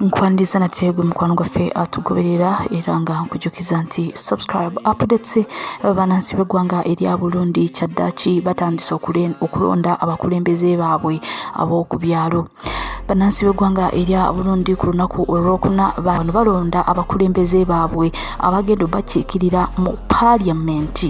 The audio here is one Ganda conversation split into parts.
nkwaniriza nate gwe mukwano gwaffe atugoberera era nga nkujukiza nti subscribe updates banansi b'eggwanga erya burundi kyaddaaki batandise okulonda abakulembeze baabwe ab'oku byalo bannansi b'eggwanga erya burundi ku lunaku olwokuna bano balonda abakulembeze baabwe abagenda obakiikirira mu paaliyamenti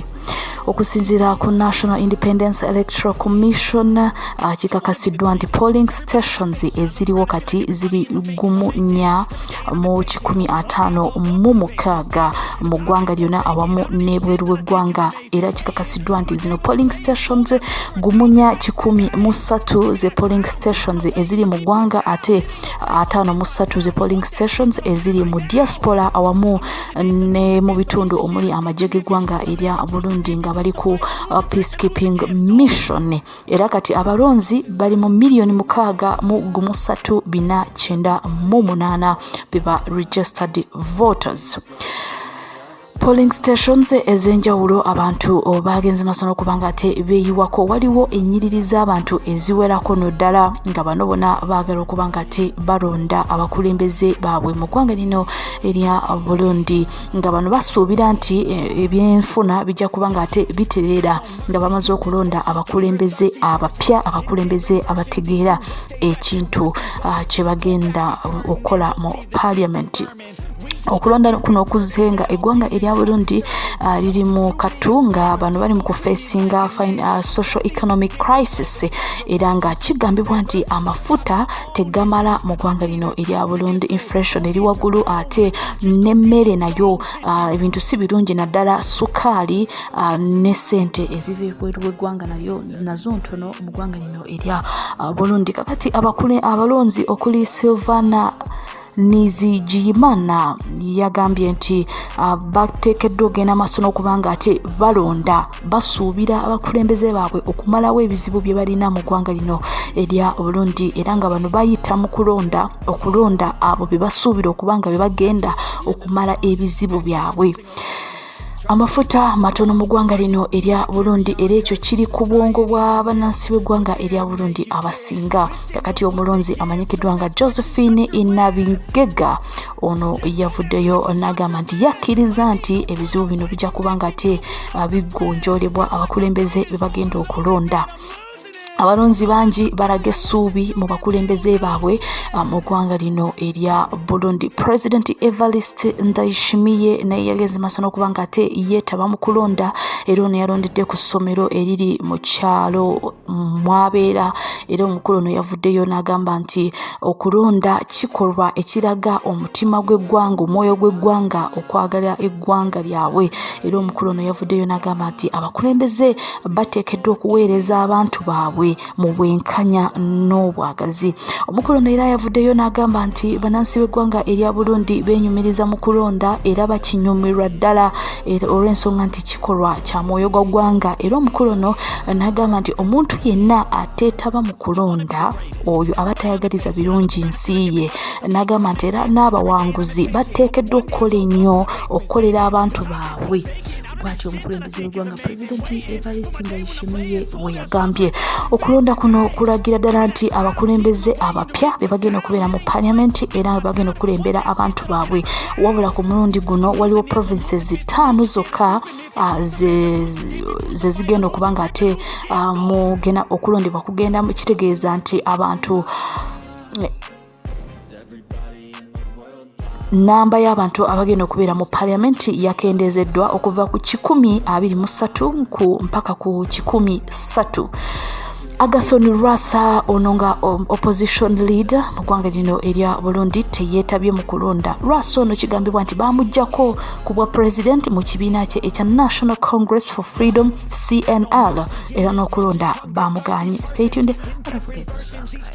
okusinziira ku national independence electoral commission uh, kikakasiddwa nti polling stations eziriwo kati ziri gumu nya mu kikumi ataano mu mukaaga mu ggwanga lyona awamu n'ebweru w'eggwanga era kikakasiddwa nti zino polling stations gumunya kikumi mu ssatu ze polling stations eziri mu ggwanga ate ataano mu ssatu ze polling stations eziri mu diaspora awamu ne mu bitundu omuli amagye g'eggwanga erya burundi nga bali ku uh, peacekeeping mission era kati abalonzi bali mu miliyoni mukaaga mu gumusatu bina kyenda mu munaana beba registered voters polling stations ez'enjawulo abantu baagenze maaso n'okuba nga ate beeyiwako waliwo ennyiriri z'abantu eziwerako no ddala nga bano bona baagala okuba nga ate balonda abakulembeze baabwe mu ggwanga lino erya Burundi nga bano basuubira nti eh, ebyenfuna bijja kuba nga ate bitereera nga bamaze okulonda abakulembeze abapya abakulembeze abategeera ekintu ah, kye bagenda okukola mu paliamenti okulonda kuno okuzze nga eggwanga erya burundi uh, liri mu katu nga bano bali mu kufesinga uh, social economic crisis era nga kigambibwa nti amafuta tegamala mu ggwanga lino erya burundi inflation eri waggulu ate n'emmere nayo ah, ebintu si birungi naddala sukaali ah, ne ssente eziva ebweru w'eggwanga nalyo nazo ntono mu ggwanga lino erya ah, burundi kakati abakule abalonzi okuli silvana nizigiyimana yagambye nti ah, bateekeddwa ogenda maaso n'okuba nga ate balonda basuubira abakulembeze baabwe okumalawo ebizibu bye balina mu ggwanga lino erya burundi era nga bano bayita mu kulonda okulonda abo bye basuubira okuba nga bye bagenda okumala ebizibu byabwe amafuta matono mu ggwanga lino erya burundi era ekyo kiri ku bwongo bwa bannansi b'eggwanga erya burundi abasinga kakati omulonzi amanyikiddwa nga josephine inabingega ono yavuddeyo n'agamba nti yakkiriza nti ebizibu bino bijja kuba nga ate ah, bigonjolebwa abakulembeze bebagenda okulonda abalonzi bangi balaga essuubi mu bakulembeze baabwe ah, mu ggwanga lino erya burundi president evarist ndaishimiye naye yagenze maaso n'okuba nga ate yeetaba mu kulonda era ono yalondedde ku ssomero eriri mu kyalo mwabeera era omukulu ono yavuddeyo n'agamba nti okulonda kikolwa ekiraga omutima gw'eggwanga omwoyo gw'eggwanga okwagala eggwanga lyabwe era omukulu ono yavuddeyo n'agamba nti abakulembeze bateekeddwa okuweereza abantu baabwe mu bwenkanya n'obwagazi omukulu ono era yavuddeyo n'agamba nti banansi b'eggwanga erya burundi benyumiriza mu kulonda era bakinyumirwa ddala olw'ensonga nti kikolwa kya mwoyo gwa ggwanga era omukulu ono n'agamba nti omuntu yenna ateetaba mu kulonda oyo aba tayagaliza birungi nsi ye n'agamba nti era n'abawanguzi bateekeddwa okukola ennyo okukolera abantu baabwe bwatyo omukulembeze eggwanga pulezidenti evarisi ndayishimiye we yagambye okulonda kuno kulagira ddala nti abakulembeze abapya be bagenda okubeera mu paliamenti era be bagenda okukulembera abantu baabwe wabula ku mulundi guno waliwo provinces ttaano zokka ah, ze zigenda okuba nga ate ah, mugenda okulondebwa kugenda kitegeeza nti abantu namba y'abantu abagenda okubeera mu paliamenti yakendeezeddwa okuva ku kikumi abiri mu ssatu ku mpaka ku kikumi ssatu agathon rasa ono nga um, opposition leader mu ggwanga lino erya burundi teyeetabye mu kulonda rasa ono kigambibwa nti baamugjako ku bwa pulezidenti mu kibiina kye ekya national congress for freedom cnl era n'okulonda baamugaanye